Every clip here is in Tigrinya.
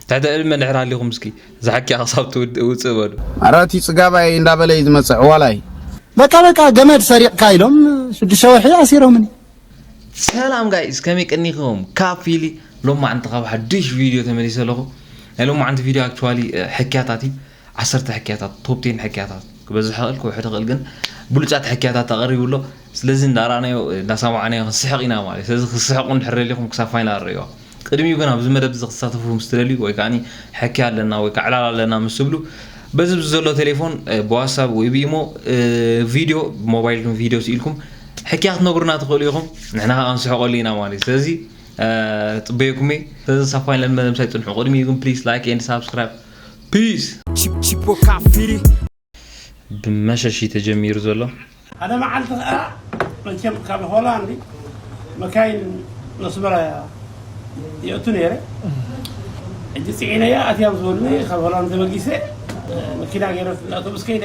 ትሕተ እብል መልዕር ሃሊኹም እስኪ እዛ ሓቂኣ ክሳብ ትውድእ ውጽእ በሉ። ኣረ እቲ ጽጋባይ እንዳበለ እዩ ዝመጽእ ዕዋላይ። በቃ በቃ ገመድ ሰሪቕካ ኢሎም ሽዱሽተ ወርሒ ኣሲሮምኒ። ሰላም ጋይስ ከመይ ቀኒኹም ካብ ፊሊ ሎማዕንቲ ካብ ሓዱሽ ቪድዮ ተመሊሰ ኣለኹ ናይ ሎማዕንቲ ቪድዮ ኣክቹዋሊ ሕክያታት እዩ ዓሰርተ ሕክያታት ቶፕ ቴን ሕክያታት ክበዝሕ ይኽእል ክውሕድ ይኽእል ግን ብሉጻት ሕክያታት ኣቐሪቡ ኣሎ ስለዚ እንዳረኣናዮ እንዳሰማዕናዮ ክንስሕቕ ኢና ማለት ስለዚ ክስሕቑ እንድሕር ደሊኹም ክሳብ ፋይናል ርእዮ ቅድሚኡ ግን ኣብዚ መደብ እዚ ክትሳተፉ ምስ ትደልዩ ወይ ከዓኒ ሕክያ ኣለና ወይ ከዓ ዕላል ኣለና ምስ ትብሉ በዚ ብዚ ዘሎ ቴሌፎን ብዋትሳብ ወይ ብኢሞ ቪድዮ ብሞባይልኩም ቪድዮ ስኢልኩም ሕክያ ክትነግሩና ትኽእሉ ኢኹም ንሕና ከዓ ክንስሕቐሉ ኢና ማለት ስለዚ ጽበየኩም እየ ስለዚ ሳብ ፋይናል መደብ ምሳይ ጽንሑ ቅድሚኡ ግን ፕሊስ ላይክ ኤንድ ሳብስክራይብ ፒስ ብመሸሽ እዩ ተጀሚሩ ዘሎ ሓደ መዓልቲ ከዓ መቸም ካብ ሆላንድ መካይን መስመራ የእቱ ነይረ ሕጂ ፅዒነያ ኣትያም ዝበሉኒ ካብ ሆላንድ ተበጊሰ መኪና ገይረ ኣውቶቡስ ከይደ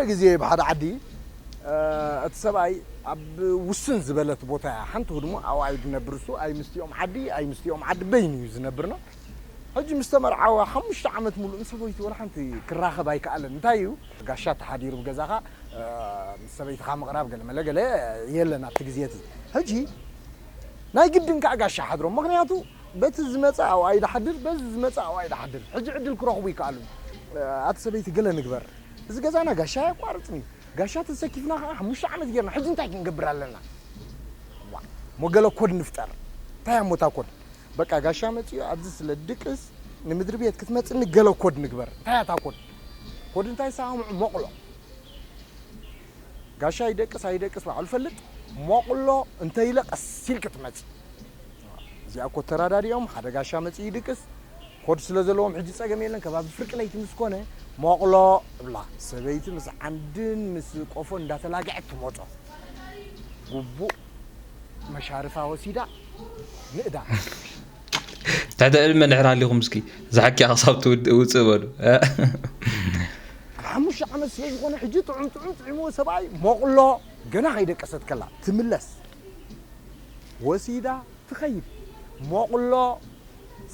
ሓደ ግዜ ኣብ ሓደ ዓዲ እቲ ሰብኣይ ኣብ ውስን ዝበለት ቦታ እያ ሓንቲ ህድሞ ኣብኣ እዩ ዝነብር እሱ ኣይ ምስቲኦም ዓዲ ኣይ ምስቲኦም ዓዲ በይኑ እዩ ዝነብርና ሕጂ ምስ ተመርዓወ ሓሙሽተ ዓመት ሙሉእ ምስ ሰበይቱ ወላ ሓንቲ ክራኸብ ኣይከኣለን እንታይ እዩ ጋሻ ተሓዲሩ ብገዛኻ ምስ ሰበይትኻ ምቕራብ ገለመለ ገለ የለን ኣብቲ ግዜ እቲ ሕጂ ናይ ግድን ከዓ ጋሻ ሓድሮም ምክንያቱ በቲ ዝመፀ ኣብኣ ይዳሓድር በዚ ዝመፀ ኣብኣ ይዳሓድር ሕጂ ዕድል ክረኽቡ ይከኣሉ ኣቲ ሰበይቲ ገለ ንግበር እዚ ገዛና ጋሻ ኣየቋርጽን እዩ። ጋሻ ተሰኪፍና ከኣ ሓሙሽተ ዓመት ጌርና። ሕጂ እንታይ ክንገብር ኣለና? ዋእ እሞ ገለ ኮድ ንፍጠር። እንታይ እያ እሞ እታ ኮድ? በቃ ጋሻ መጺኡ ኣብዚ ስለ ድቅስ ንምድሪ ቤት ክትመጽኒ ገለ ኮድ ንግበር። እንታይ እያ እታ ኮድ? ኮድ እንታይ ሳምዑ ሞቕሎ። ጋሻ ይደቅስ ኣይደቅስ ባዕሉ ይፈልጥ ሞቕሎ እንተ ኢለ ቀስ ኢልኪ ትመጺ እዚኣ እኮ ተራዳዲኦም ሓደ ጋሻ መጺኡ ይድቅስ ኮድ ስለ ዘለዎም ሕጂ ጸገም የለን ከባቢ ፍርቂ ለይቲ ምስ ኮነ ሞቕሎ እብላ ሰበይቲ ምስ ዓንድን ምስ ቆፎን እንዳተላግዐት ትሞጾ ጉቡእ መሻርፋ ወሲዳ ንእዳ ትሕተ ዕድመ ድሕር ሃሊኹም እስኪ እዛ ሓኪያ ክሳብ ትውድእ ውፅእ በሉ ሓሙሽተ ዓመት ስለ ዝኾነ ሕጂ ጥዑም ጥዑም ጥዒምዎ ሰብኣይ ሞቕሎ ገና ከይደቀሰት ከላ ትምለስ ወሲዳ ትኸይድ ሞቕሎ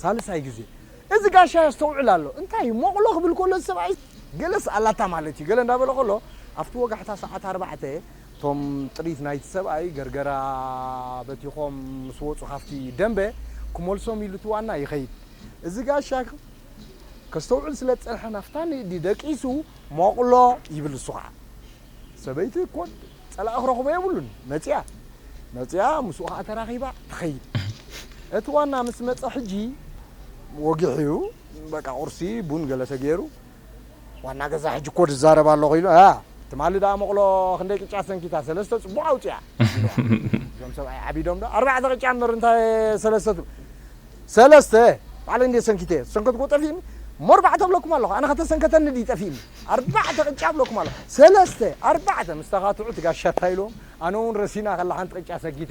ሳልሳይ ግዜ እዚ ጋሻ የስተውዕል ኣሎ እንታይ እዩ ሞቕሎ ክብል ከሎ ሰብኣይ ገለስ ኣላታ ማለት እዩ ገለ እንዳበለ ከሎ ኣብቲ ወጋሕታ ሰዓት ኣርባዕተ እቶም ጥሪት ናይቲ ሰብኣይ ገርገራ በቲኾም ምስ ወጹ ካብቲ ደምበ ክመልሶም ኢሉ እቲ ዋና ይኸይድ። እዚ ጋሻ ከስተውዕል ስለ ዝጸንሐ ናፍታ ንእዲ ደቂሱ ሞቕሎ ይብል እሱ ከኣ ሰበይቲ እኮ ጸላኢ ክረኽቦ የብሉን መጺኣ መጺኣ ምስኡ ከኣ ተራኺባ ትኸይድ። እቲ ዋና ምስ መጸ ሕጂ ወጊሑ በቃ ቁርሲ ቡን ገለ ተገይሩ ዋና ገዛ ሕጂ ኮድ እዛረብ ኣለኹ ኢሉ ኣያ ትማሊ ደኣ መቕሎ ክንደይ ቅጫ ሰንኪታ ሰለስተ ጽቡቕ ኣውጺኣ ኢልዋ እዞም ሰብኣይ ዓቢዶም ዶ ኣርባዕተ ቅጫ እምበር እንታይ ሰለስተ ትብል ሰለስተ ባዕለይ እንዴ ሰንኪተ ዝሰንከትኩዎ ጠፊእኒ እሞ ኣርባዕተ እብለኩም ኣለኹ ኣነ ከተሰንከተኒ ድዩ ጠፊእኒ ኣርባዕተ ቅጫ እብለኩም ኣለኹ ሰለስተ ኣርባዕተ ምስ ተኻትዑ እቲ ጋሻ እንታይ ኢልዎም ኣነ እውን ረሲና ከላ ሓንቲ ቅጫ ሰጊተ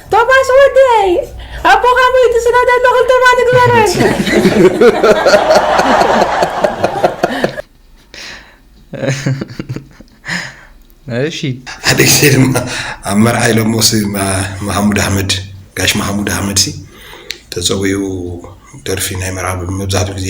ቶማስ ወደይ ኣቦኻ ሞይቱ ስለ ደሎ ክልተ ማል ንግበረን እሺ ሓደ ግዜ ድማ ኣብ መርዓ ኢሎሞ ሲ መሃሙድ ኣሕመድ ጋሽ መሃሙድ ኣሕመድ ሲ ተፀዊኡ ደርፊ ናይ መርዓ መብዛሕትኡ ግዜ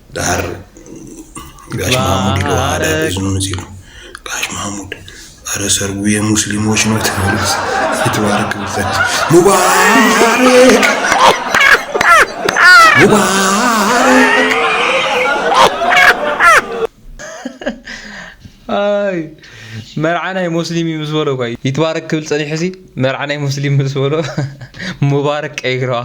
ደሓር ጋሽ ማሙድ ዶ ኣረ እዝኑ ንጺሉ ጋሽ ማሙድ ኣረ ሰርጉ የሙስሊሞች ነው ትበልስ ይትባረክ ብልጸት ሙባረክ ሙባረክ ኣይ መርዓ ናይ ሙስሊም እዩ ምስ በሎ እኳ ይትባረክ ክብል ጸኒሑ ሲ መርዓ ናይ ሙስሊም ምስ በሎ ሙባረክ ቀይረዋ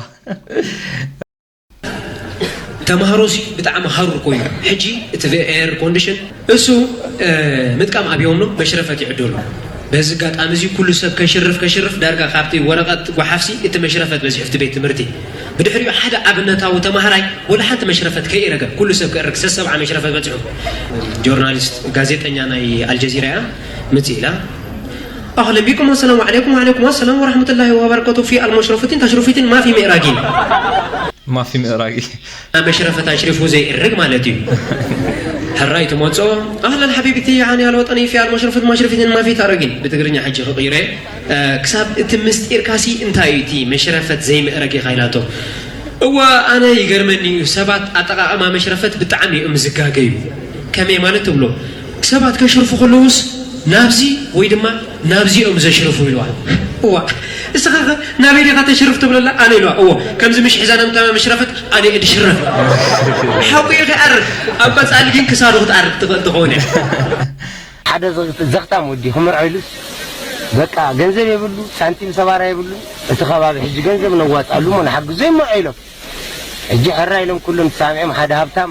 ተማሃሮ ሲ ብጣዕሚ ሃሩር ኮይኑ ሕጂ እቲ ኤር ኮንዲሽን እሱ ምጥቃም ኣብዮም ነው መሽረፈት ይዕደሉ በዚ ኣጋጣሚ እዚ ኩሉ ሰብ ከሽርፍ ከሽርፍ ዳርጋ ካብቲ ወረቐት ጓሓፍሲ እቲ መሽረፈት በዚሑ እቲ ቤት ትምህርቲ ብድሕሪኡ ሓደ ኣብነታዊ ተማሃራይ ወላ ሓንቲ መሽረፈት ከይረገ ኩሉ ሰብ ክእርግ ሰሰብዓ መሽረፈት በፂሑ ጆርናሊስት ጋዜጠኛ ናይ ኣልጀዚራ እያ ምፅ ኢላ ኣህለን ቢኩም ኣሰላሙ ዓለይኩም ወዓለይኩም ኣሰላም ወራህመቱላሂ ወበረከቱ ፊ ኣልሞሽረፉቲን ታሽሩፊቲን ማፊ ምእራጊን። ማፊ ምእራጊ መሽረፈት ኣሽሪፉ ዘይእርግ ማለት እዩ ሕራይ ትመፅኦ ኣህለን ሓቢብቲ ዓኒ ኣልወጠኒ ፊ ኣልሞሽረፉት ማሽረፊቲን ማፊ ታረጊን ብትግርኛ ሕጂ ክቕይረ ክሳብ እቲ ምስጢርካሲ እንታይ እዩ እቲ መሽረፈት ዘይምእረግ ኢኻ ኢላቶ እወ ኣነ ይገርመኒ እዩ ሰባት ኣጠቃቅማ መሽረፈት ብጣዕሚ እዮም ዝጋገዩ ከመይ ማለት ትብሎ ሰባት ከሽርፉ ከለዉስ ናብዚ ወይ ድማ ናብዚ እዮም ዘሽርፉ ኢልዋ። እዋ እስኻ ከ ናበይ ዲኻ ተሽርፍ ትብለላ ኣነ ኢልዋ። እዎ ከምዚ ምሽ ሒዛ ነምታማ መሽረፈት ኣነ እየ ድሽረፍ ኢልዋ። ሓቁ እዩ ክኣርግ ኣብ ቀጻሊ ግን ክሳዱ ክትኣርግ ትኽእል ትኸውን እያ። ሓደ ዘኽታም ወዲ ክምርዖ ኢሉስ በቃ ገንዘብ የብሉ ሳንቲም ሰባራ የብሉ እቲ ከባቢ ሕጂ ገንዘብ ነዋጽኣሉ እሞ ንሓግዞ ይመርዖ ኢሎም ሕጂ ሕራይ ኢሎም ኩሎም ተሳሚዖም ሓደ ሃብታም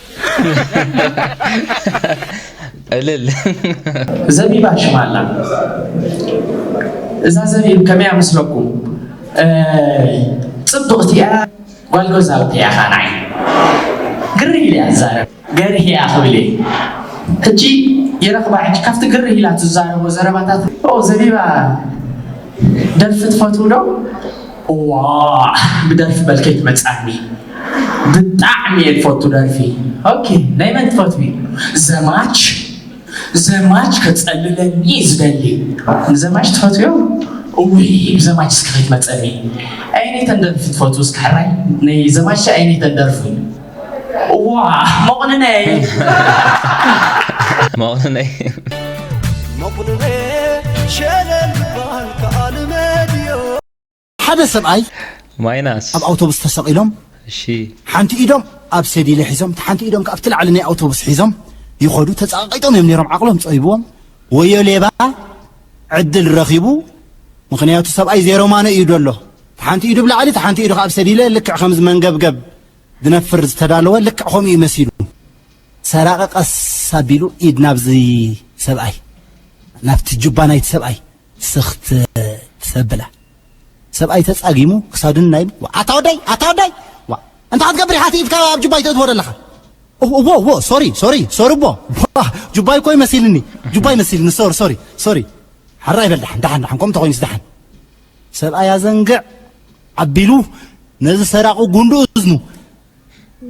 እልል ዘቢባ ሽማላ እዛ ዘቢብ ከመያ ምስለኩም ፅብቕቲ እያ ጓል ገዛውቲ እያ ኸዓ ንዓይ ግር ኢለ እያ ትዛረብ ገርህ እያ ክብል እየ ሕጂ ይረኽባ ሕጂ ካብቲ ግርህ ኢላ ትዛረቦ ዘረባታት ዘቢባ ደርፊ ትፈትው ዶ እዋእ ብደርፊ መልከይ ትመጻኒ ብጣዕሚ እየ ዝፈቱ ደርፊ ኦኬ ናይ መን ትፈትዊ ዘማች ዘማች ከጸልለኒ እዩ ዝደሊ ንዘማች ትፈትዮ እውይ ብዘማች እስከ ከይትመጸኒ ኣይነተን ደርፊ ትፈቱ እስከ ሕራይ ናይ ዘማች ኣይነተን ደርፊ እዋ መቑንነይ መቑንነይ መቑንነ ሸለል ባል ከኣል መድዮ ሓደ ሰብኣይ ማይናስ ኣብ ኣውቶቡስ ተሰቒሎም እሺ ሓንቲ ኢዶም ኣብ ሰዲለ ሒዞም እቲ ሓንቲ ኢዶም ካብቲ ላዕሊ ናይ ኣውቶቡስ ሒዞም ይኸዱ ተፃቂጦም እዮም ነይሮም ዓቕሎም ፀይብዎም ወዮ ሌባ ዕድል ረኺቡ ምክንያቱ ሰብኣይ ዜሮማኖ እዩ ደሎ እቲ ሓንቲ ኢዱ ብላዕሊ እቲ ሓንቲ ኢዱ ኣብ ሰዲለ ልክዕ ከምዚ መንገብገብ ዝነፍር ዝተዳለወ ልክዕ ከምኡ እዩ መሲሉ ሰራቂ ቀስ ኣቢሉ ኢድ ናብዚ ሰብኣይ ናብቲ ጁባ ናይቲ ሰብኣይ ስኽት ትሰብላ ሰብኣይ ተጻጊሙ ክሳዱን ናይ ኣታ ወደይ ኣታ ወደይ እንታይ ክትገብር ኢኻ እቲ ኢድካ ኣብ ጁባይ ተእትዎ ዘለኻ እዎ እዎ ሶሪ ሶሪ ሶሪ እቦ ጁባይ እኮ ይመሲልኒ ጁባይ መሲልኒ ሶሪ ሶሪ ሶሪ ሓራ ይበል ደሓን ደሓን ደሓን ከምኡ ተኮይኑስ ደሓን ሰብኣይ ኣዘንግዕ ኣቢሉ ነዚ ሰራቂ ጉንዱ እዝኑ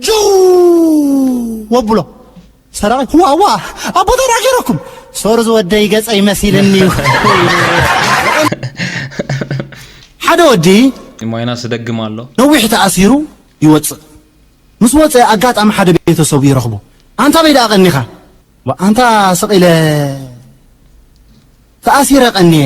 ጅው ወብሎ ሰራቂ ዋዋ ኣቦታና ገይረኩም ሶር ዝወደይ ገጸይ መሲልኒ እዩ ሓደ ወዲ ሞይና ስደግም ኣሎ ነዊሕ ተኣሲሩ ይወፅእ ምስ ወፀ ኣጋጣሚ ሓደ ቤተሰቡ ይረኽቦ ኣንታ በይ ደኣ ቀኒኻ ኣንታ ስቒለ ተኣሲረ ቀኒየ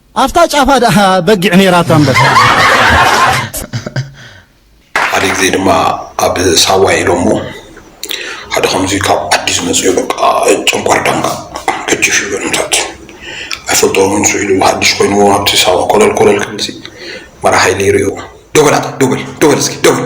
ኣፍታ ጫፋ ደኣ በጊዕ ኔራቶ ኣንበሳ። ሓደ ግዜ ድማ ኣብ ሳዋ ኢሎሞ ሓደ ከምዚ ካብ ዓዲ ዝመጸ በቃ ጨንቋር ዳንጋ ገጅፍ ይብል ምታት ኣይፈልጦን ንሱ ኢሉ ሓድሽ ኮይንዎ ኣብቲ ሳዋ ኮለል ኮለል ክብልሲ መራሓይ ኔሩ እዩ ዶበል ኣታ ዶበል ዶበል እስኪ ዶበል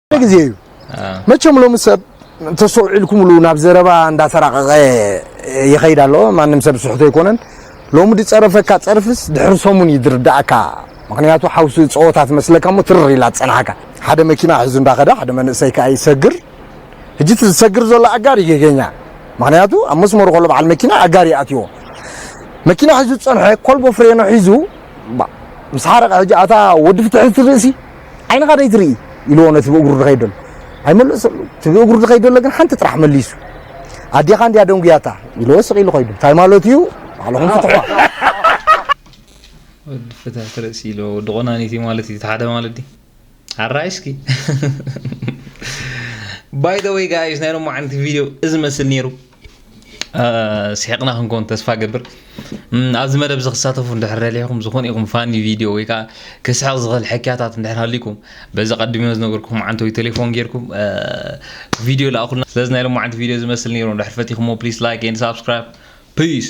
ግዜ እዩ መቸም ሎሚ ሰብ ተሰውዒልኩምሉ ናብ ዘረባ እንዳተራቀቀ ይኸይድ ኣሎ ማንም ሰብ ስሕቶ ኣይኮነን ሎሚ ድጸረፈካ ጸርፍስ ድሕሪ ሰሙን እዩ ድርዳእካ ምክንያቱ ሓውሲ ጸወታ ትመስለካ እሞ ትርር ኢላ ትጸንሓካ ሓደ መኪና ሒዙ እንዳኸደ ሓደ መንእሰይ ከዓ ይሰግር ሕጂ እቲ ዝሰግር ዘሎ ኣጋር ይጌገኛ ምክንያቱ ኣብ መስመሩ ከሎ በዓል መኪና ኣጋር ይኣትዎ መኪና ሒዙ ዝጸንሐ ኮልቦ ፍሬኖ ሒዙ ምስ ሓረቀ ሕጂ ኣታ ወዲ ፍትሒ ትርእሲ ዓይንኻ ደይ ትርኢ ኢልዎ ነቲ ብእግሩ ድኸይድ ደሎ ኣይመለሰሉ እቲ ብእግሩ ድኸይድ ደሎ ግን ሓንቲ ጥራሕ መሊሱ ኣዴኻ እንድያ ደንጉያታ ኢልዎ ስቕ ኢሉ ኮይዱ እንታይ ማለት እዩ ባዕልኹም ፍትሖ ወዲ ፍትሕ ትርእሲ ኢሎ ወዲ ቆናኒቲ ማለት እዩ ተሓደ ማለት ዲ ሓራይ እስኪ ባይ ዘ ወይ ጋይስ ናይ ሎማዓንቲ ቪድዮ እዚ መስል ነይሩ ስሒቕና ክንኮን ተስፋ ገብር ኣብዚ መደብ እዚ ክሳተፉ እንድሕር ደሊኹም ዝኾነ ይኹም ፋኒ ቪድዮ ወይ ከዓ ክስሕቕ ዝኽእል ሕክያታት እንድሕር ሃሊኩም በዚ ቀድሚዮ ዝነገርኩም ዓንተ ወይ ቴሌፎን ጌርኩም ቪድዮ ላእኹልና ስለዚ ናይ ሎማዓንቲ ቪድዮ ዝመስል ነይሩ እንድሕር ፈቲኹሞ ፕሊስ ላይክ ኤንድ ሳብስክራይብ ፒስ